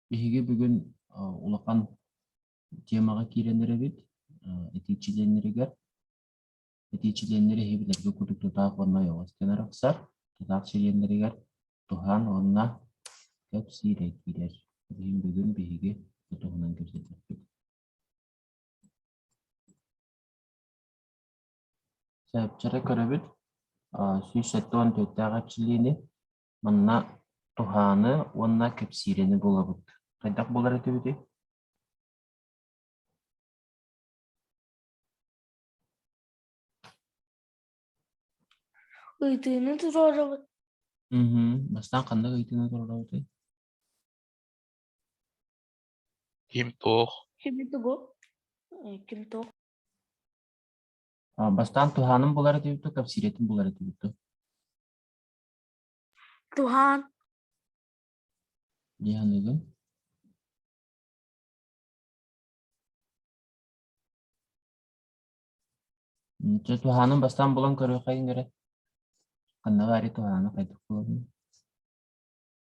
Биһиги бүгүн улахан тиэмэҕэ киирэн эрэбит этии чилиэннэригэр. Этии чилиэннэри иһи билэргэ курдук тутаах уонна ойоҕос гынан арахсар. Тутаах чилиэннэригэр туһаан уонна көп сиирэ киирэр. Бүгүн бүгүн биһиги туһунан кэпсэтиэхпит. Сөпчөрө көрөбүт, сүүс сэттэ уон төрүттээх эрчиллиини, манна туһааны уонна кэпсиирэни булабыт. Хайдах булар этибитий? Ыйытыыны туруорабыт. Мм, бастаан ханнык ыйытыыны туруорабытый? Ким туох? Кими тугу? Ким туох? А, бастаан туһааным булар этибит дуо, кэпсиирэтин булар этибит дуо? Туһаан. Дыйаныгын? Дьэ, туһаанын бастаан булан көрүөххэ эрэ ханна баары туһааны хайдах булабын?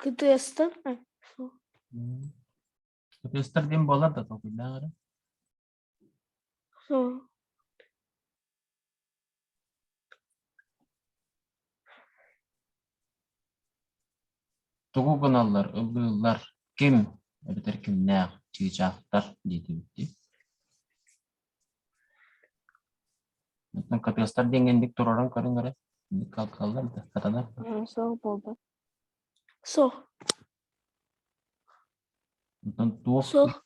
КТС-тан КТС-тар диэн буолар да толкуйдаах эрэ тугу гыналлар ыллыыллар ким эбэтэр кимнээх чыычаахтар диэтибит дии Оттон кытыастар диэн итик турарын көрөн көрө калкаллар да сатанар Суох буолбат. Суох. Оттон туох Суох.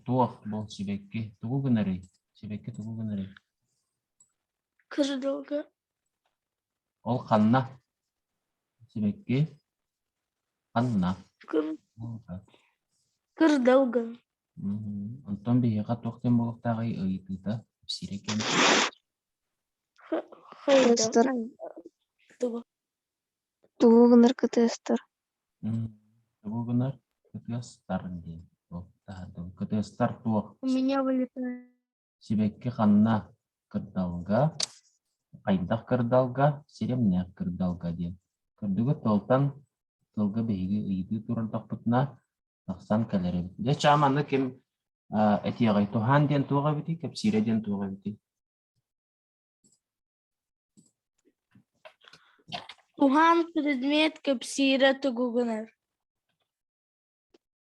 туох бұл сибекке тугу гынарый сибекке тугу гынарый Кыжыдылга. ол ханна сибекке ханна Кыр- Булга. кырдалгын. Онтон биһиэхэ туох диэн буолуохтааҕый ыйытыыта сирэй кэм Кытыыстар тугу гынар кытыыстар Тугу гынар кытыастар диэн ол таһырдьа кытыастар туох У меня вылетает Сибэкки ханна кырдалга, хайдах кырдалга, сиримнээх кырдалга диэн. Кырдыгы тылтан тылга биһиги ыйытыы турардахпытына тахсан кэлэр эбит. Дьэ, чаам аны ким этиэҕэй туһаан диэн туох эбитий, кэпсиирэ диэн туох эбитий? Туһаан предмет кэпсиирэ тугугунар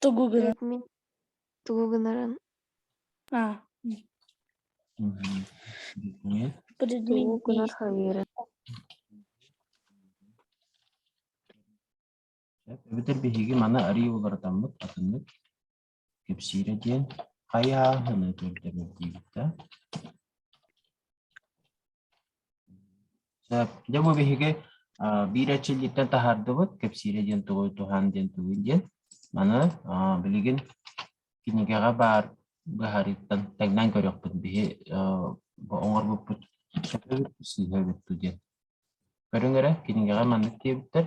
Тугу гынар? Эт мин тугу гынарын А. Предмет тугу гынар действий. хавирин Эбэтэр биһиги маны арыы уларытаммыт атыннык кэпсиирэ диэн хайыһарынаны көрдөбүл диэбиттэ. Дьэ бу биһиги биир эрчиллииттэн таһаардыбыт кэпсиирэ диэн тугуй туһаан диэн тугуй диэн маны билигин кинигэҕэ баар быһаарыыттан тэҥнээн көрүөхпүт биһи оҥорбуппут сөпөбүт сыыһа эбит дуу диэн көрүҥ эрэ кинигэҕэ маннык диэбиттэр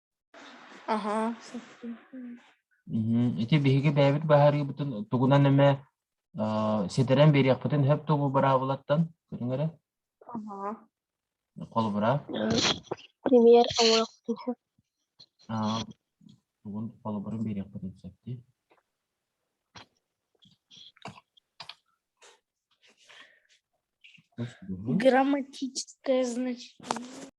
Аһаа. Мм, ити биһиги бэйэбит быһаарыыбытын тугунан эмэ аа, ситэрэн биэриэхпитин сөп тугу быраабылаттан көрүҥ эрэ. Аһаа. Холобура. М, Пример ылыахпын сөп. аа, тугун холобурун биэриэхпитин сөп дии. Грамматическое значение.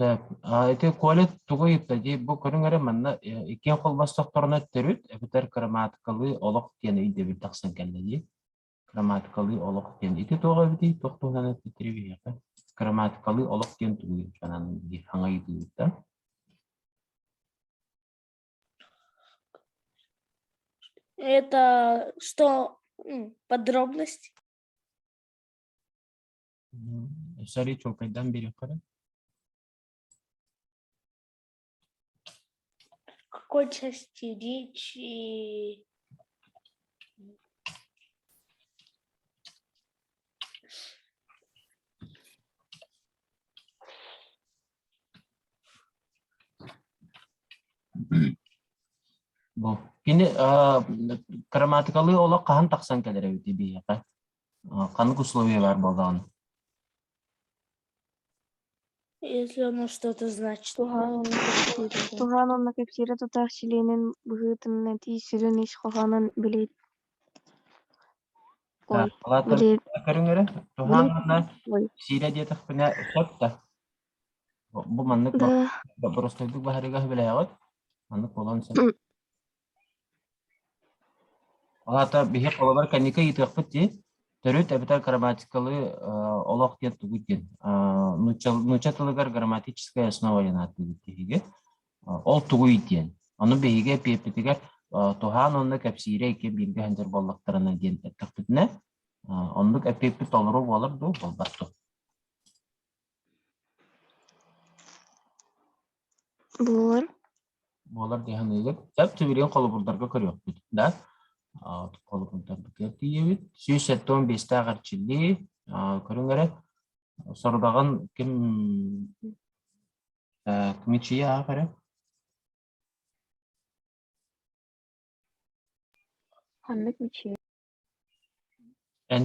Сөп. А, ити Коля тугу ыйытта дии, бу көрүҥ эрэ манна э, иккиэн холбостохторуна төрүт эбэтэр краматикалыы олох диэн өйдөбүл тахсан кэллэ дии. Краматикалыы олох диэн ити туох эбитий? Туох туһунан эттири биһиэхэ? Краматикалыы олох диэн тугу санаан диир хаҥайытыыта? Это что подробности? Сори, чуолкайдан биэриэххэ Хочешь стеречь Бу. Кини грамматикалыы олох хаһан тахсан кэлэр эбит биһиэхэ? ханнык условиялар буоллаҕын если оно что-то значит туһаан уонна кэпсиирэ тутаах чилиэнин быһыытыннатыы сүрүн ис хоһоонун билиит көрүҥүрэ туһаан уонна кэпсиирэ диэтэхпинэ сөп да бу маннык боппуруостайдык баһарыыга сөбүлээҕит маннык буолуон сөп Ол аата биһи холобур кэнники ыйытыахпыт дии. Төрүт эбэтэр грамматикалыы э, олох диэн тугуй диэн. Э, нуучча, нуучча тылыгар грамматическая основа диэн ааттыыбыт биһиги. Э, ол тугуй диэн. Ону биһиги эпиэппитигэр туһаан онно кэпсиирэ икки бииргэ сылдьар буоллахтарына диэн эттэхпитинэ, оннук эпиэппит толору буолар дуу, буолбат дуу? Буолар. буолар дии саныыбын. Сөп тимирин холобурдарга көрүөхпүт да холобурдарбытыгар тиийэбит. Сүүс сэттэ он биэстээх эрчиллии көрүҥ эрэ сорудаҕын ким кмичийэ аах эрэ ханнык мичийэ эн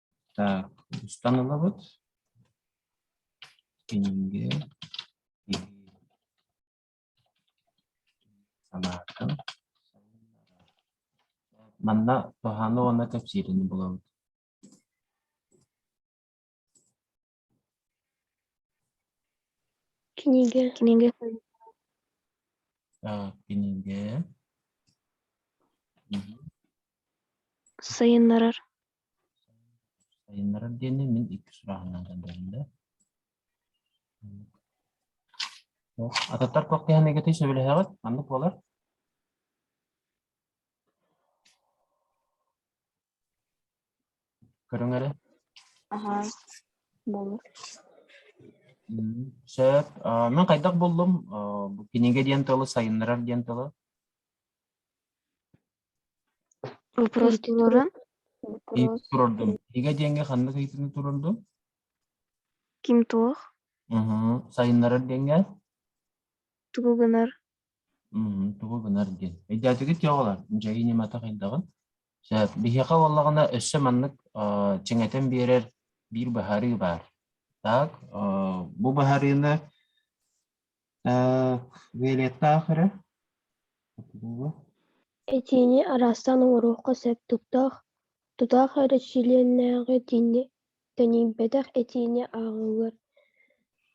Так, устан ылабыт. Кинигэ, иһии. Санааккын. Манна тоһааны уонна кэпсиирини булабыт. Кинигэ. Кинигэ. Так, кинигэ. Мгм. Сайыннарар. Сайыннарар диэни мин икки сурааһынан көрдөрдүм Туох ататтар туох деһэн эгэтэй сөбүлэһэҕит? Маннык буолар? Көрүҥ эрэ. Аһаа, болор. М, Сөп. А, мен хайдах буллум? А, бу кинигэ диэн тылы сайыннарар диэн тылы. Утуруостууларын Ыйыp турардым. Кинигэ диэҥҥэ ханнык ыйытыыны турардым? ким туох, Мгм. Сайыннарар диэҥҥэ? тугу гынар, М, тугу гынар диэн. Өйдөөтүгүт yo'qолар, дьайыы ньымата хайдаҕын? Чэ, биһиэхэ буоллаҕына өссө маннык, аа, чиҥэтэн биэрэр биир быһаарыы баар. Так, аа, бу быһарыыны, аа, выэльеттаах эрэ Этиини араастаан оҥоруохха сөп. Тустаах, тутаах эрэ чилиэннээҕи этиини тэнийбэтэх этиини ааҕыгар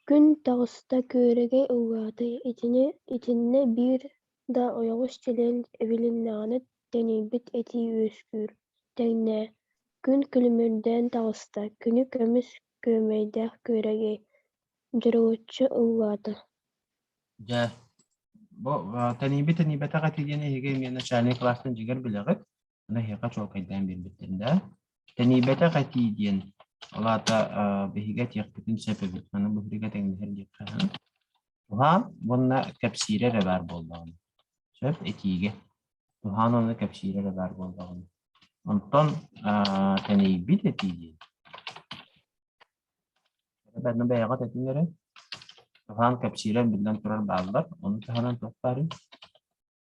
күн таҕыста күөрэгэй ыллаатый итини итиннэ биир да ойоҕос чилиэн эбилиннэҕинэ тэнийбит этии үөскүүр тэҥнээ күн күлүмүрдээн таҕыста күнү көмүс күөмэйдээх күөрэгэй дьоруоччу ыллаата дьэ бу тэнийбит тэнийбэтэх этий диэн эһиги эмиэ начальнай класстан дьигэр билэҕит Аны эһиэхэ чуолкайдаан биэрбиттэр да. Тэнийбэтэх этии диэн, ол аата биһиги этиэхпитин сөп эбит. Аны бу биһиги тэҥнэһэр диэххэ Туһаан уонна кэпсиирэ эрэ баар буоллаҕына. Сөп, этиигэ. Туһаан уонна кэпсиирэ эрэ баар буоллаҕына. Онтон тэнийбит этии диэн. Бэйэҕэ бэйэҕит эрэ. Туһаан кэпсиирэ биллэн турар бааллар. Ону таһынан туох баарый?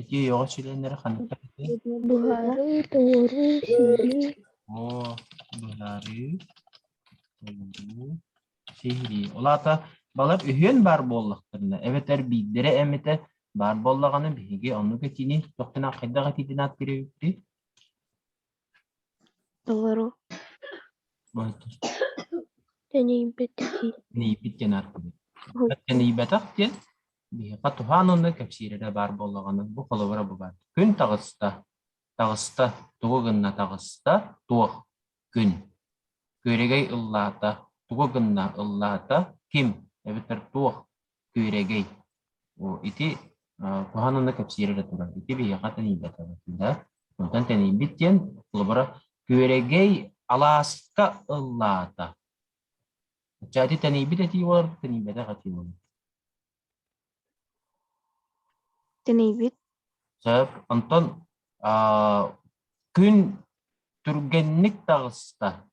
Ити ойоҕо чилиэннэрэ хантан этэй? Буһарыы, туоруу, сиһилии. Оо, быһаарыы, туоруу, сиһилии. Ол аата балар үһүөн баар буоллахтарына, эбэтэр биирдэрэ эмитэ баар буоллаҕына, биһиги оннук этиини туох гынан хайдах этиитин ааттыыр эбиппит? Толору тэнийбит дии Нейбит диэн аргыһы. Кытта нейбэтэх диэн биһиэхэ туһаан уонна кэпсиирэ баар буоллаҕына бу холобура бу баар. Күн таҕыста. Таҕыста. Тугу гынна таҕыста? Туох? Күн. Күөрэгэй ыллаата. Тугу гынна ыллаата? Ким? Эбэтэр туох? күрэгэй. О, ити э, туһаан аны кэпсиир эрэ турар. Ити биһиэхэ тэнийбэтэҕэ да. Онтон тэнийбит диэн, холобура, күрэгэй алааска ыллаата. Ча ити тэнийбит этии болар, тэнийбэтэх этии болар. Тэнийбит. Сөп. Онтон аа, күн түргэнник таҕыста.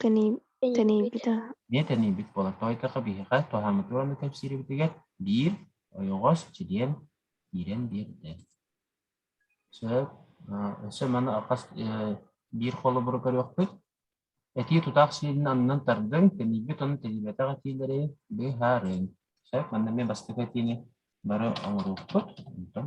Тэнийбитэ. Эмиэ тэнийбит буолар. Тоойдохо биһиэхэ туһааммыт уонна кэпсиирбитигэр биир ойоҕос чилиэн киирэн биэрдэ. Сөп. Өссө маны хас биир холобуру көрүөхпүт. Этии тутаах чилиэнин аннынан тардыҥ, тэнийбит уонна тэнийбэтэх этиилэри быһаарыҥ. Сөп. Манна эмиэ бастакы этиини бары оҥоруохпут. Онтон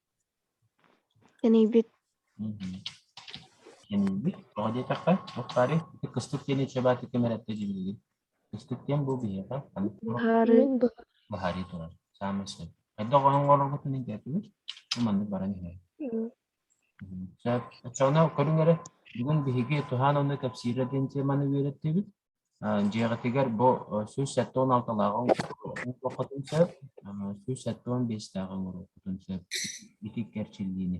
Кэнийбит Кэнийбит тоҕо диэтэххэ Бухари кыстык диэни чэбээти ким эрэтэ дьибилигин кыстык диэн бу биһиэхэ Быһаарыы быһаарыы турар саамай сөп хайдах оһоҥ оҥороргутун интээтибит бу маннык баран иһэр сөп оччоҕуна көрүҥ эрэ бүгүн биһиги туһаан онно кэпсиирэ диэн теманы үөрэттибит Дьиэҕитигэр бу сүүс сэттэ уон алталааҕы оҥоруоххутун сөп, сүүс сэттэ уон биэстээҕи оҥоруоххутун сөп ити кэрчиллиини.